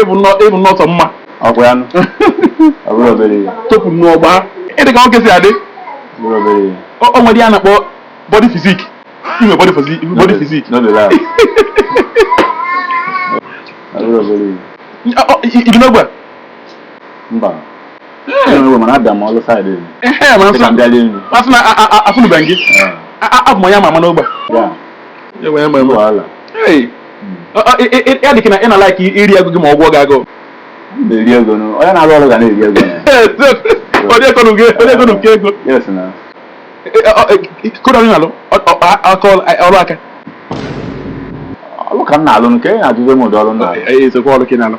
ị bụ nnọọ sọ mma ọgwụ ya topụ n'ọgba ị dị ka nwoke si adị o nwere ihe a na-akpọ body physique i nwe body physique body physique i bi n'ogbe mba afụnụbeghị gị abụ m onye ama ama n'ogbe a dịka na ị na-alike iri ego gị ma ọ gụọ gị agụụ onye na-arụ ọrụ ga na-eri ego onye kọrọ nke ego kedu ọrụ ị na-alụ ọrụ aka ọrụ ka m na-alụ nke ị na-ajụzi m ụdị ọrụ m na-alụ